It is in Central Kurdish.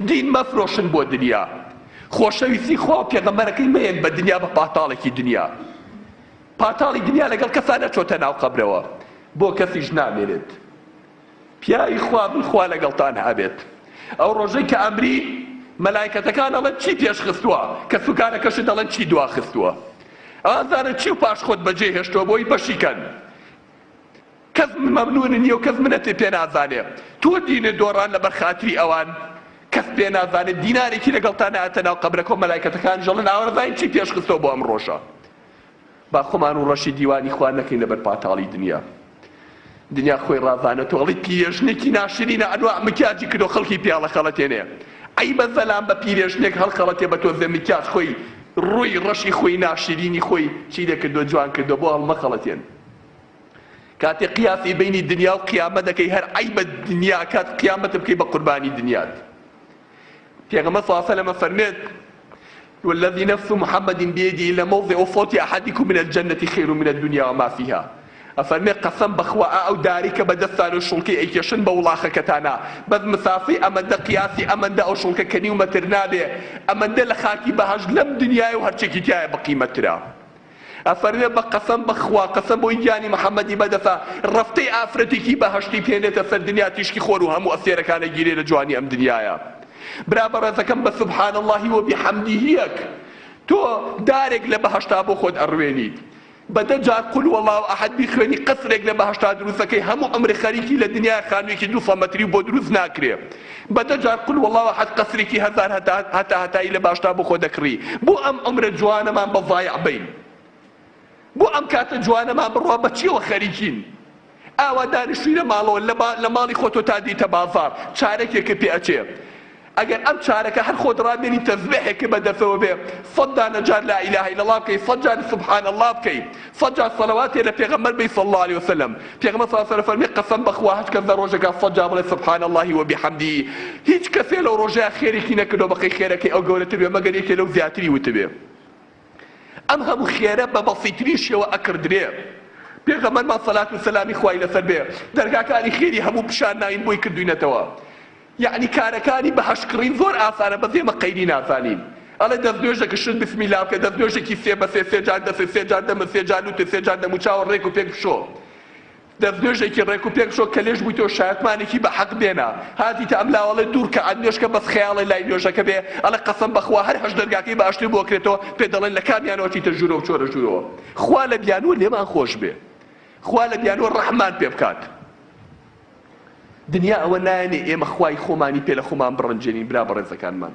دین مەفرۆشن بۆ دنیا. خۆشەویستی خوا و پێغەمبەرەکەی مەیەن بە دنیا بە پاتاڵێکی دنیا. پاتاڵی دنیا لەگەڵ کەسا نەچۆتە ناو قەبرەوە بۆ کەسیش نامێنێت. پیاوی خوا بن خوا لەگەڵتان هەبێت. ئەو ڕۆژەی کە ئەمری مەلایکەتەکان ئەڵێن چی پێش خستووە؟ کەس و کارەکەشت دەڵێن چی دوا خستووە؟ ئازانە چی و پاش خۆت بەجێ هێشتووە بۆی بەشی کەن. کەس مەمنونی نیە و کەس منەتی پێ نازانێ تۆ دینت دۆڕان لەبەر خاتری ئەوان کەس پێ نازانێ دینارێکی لەگەڵتا نایەتە ناو قەبرەکە و مەلایکەتەکانیش ئەڵێن ئاوەرزاین چی پێش خستەوە بۆ ئەم ڕۆژە با خۆمان و ڕەشی دیوانی خوا نەکەین لەبەر پاتاڵی دنیا دنیا خۆی ڕازانە تۆ ئەڵی پیرێژنێکی ناشرینە ئەنواع مکیاجی کردو خەڵکی پێ هەڵەخەڵەتێنێ عەیبە زەلام بە پیرێژنێک هەڵخەڵەتێ بە تۆزێ مکیاج خۆی ڕووی ڕەشی خۆی ناشرینی خۆی چی لێ کردوە جوان کردوە بۆ هەڵمەخەڵەتێن. کاتێ قیاسی بینی دنیا و قیامەت دەکەی هەر عەیبە دنیا ئەکات قیامەت بکەی بە قوربانی دنیات پێغەمبەر صلی الله علیه و سلم فەرمێت والذي نفس محمد بيده لموضع صوت احدكم من الجنه خير من الدنيا وما فيها ئەفەرمێ قەسەم بەخوا ئەو داری کە بەدەستان و شوڵکەی ئەیکێشن بە وڵاخەکەتانە بەس مسافی ئەمەندە قیاسی ئەمەندە ئەو شوڵکە کە نیومەتر نابێ ئەمەندە لە خاکی بەهەشت لەم دنیای و هەرچێکی تایە بەقیمەترە ئەفەرمێ بە قەسەم بە خوا قەسەم بۆی گیانی محمدی بەدەسە رەفتەی ئافرەتێکی بەهەشتی بهێنێتە سەر دنیا تیشکی خۆر و هەموو ئەستێرەکان ئەگیرێ لە جوانی ئەم دنیایە برا بەڕێزەکەم بە سبحان اللە و بحمدیهیەک تۆ دارێک لە بەهەشتا بۆ خۆت ئەڕوێنیت بە دە جار قول واللە احد بیخوێنی قەسرێک لە بەهەشتا دروستەکەی هەموو عەمرت خەریکی لە دنیایە خانوویەکی دوو سەد مەتری بۆ دروست ناکرێ بە دە جار قل واللە احد قەسرێکی هەزار هەتا هەتایی لە باشدا بۆ خۆ دەکڕی بۆ ئەم عومرە جوانەمان بە ضایع بەین بۆ ئەم کاتە جوانەمان بڕوا بە چیەوە خەریکین ئاوا دانیشتوی لە ماڵەوە لە ماڵی خۆ تۆ تا دیتە بازار چارەکێکە پێ ئەچێ ئەگەر ئەم چارەکە هەر خۆت ڕابێنی تەزبێحێکە بە دەسەوە بێ سەد دانە جار لا اله الا الله بکەی سەد جار سبحان الله بکەی سەد جار سەڵەواتێ لە پێغەمبەر بەی صلی اللە علیە وسلم، پێغەمبەر صلی اللە علیە وسلم فەرمی، قەسەم بەخوا هەچ کەس لە ڕۆژێکا سەد جار بڵێ سبحان اللە وبحمدە هیچ کەسێ لەو ڕۆژەیا خێرێکی نەکردوە بەقەی خێرەکەی ئەو گەورەتر بێ مەگەر یەکێ لەو زیاتری وتبێ ئەم هەموو خێرە بە بەسیترین شێوە ئەکڕدرێ پێغەمبەرمان صلات و سلامی خوای لەسەر بێ دەرگاکانی خێری هەموو پیشان ناوین بۆی کردوینەتەوە یەعنی کارەکانی بە هەشت کڕین زۆر ئاسانە بەس ئێمە قەیری نازانین ئەڵێ دەستنوێژە گشت بسمیلا بکە دەستنوێژێکی سێ بە سێ سێ جار دەست سێ جار دەمت سێ جار لوتت سێ جار دەموچاوت ڕێک و پێک بشۆ دەستنوێژێکی ڕێک و پێک بشۆ کەلێژ بووی تۆ شایەتمانێکی بە حەق بێنە هاتیتە ئەم لاوە ئەڵێ دوو رکەعات نوێژ کە بەس خەیاڵێ لای نوێژەکە بێ ئەڵێ قەسەم بە خوا هەر هەشت دەرگاکەی بە ئەشتر بۆ کرێتەوە پێت دەڵێن لە کامیانەوە چیتە ژوورەوە بچۆرە ژوورەوە خوا لە بیانوو لێمان خۆش بێ خوا لە بیانوو ڕەحممان پێ بکات. دنیا ئەوە نایەنێ ئێمە خوای خۆمانی پێ لە خۆمان بڕەنجێنین برا بەڕێزەکانمان.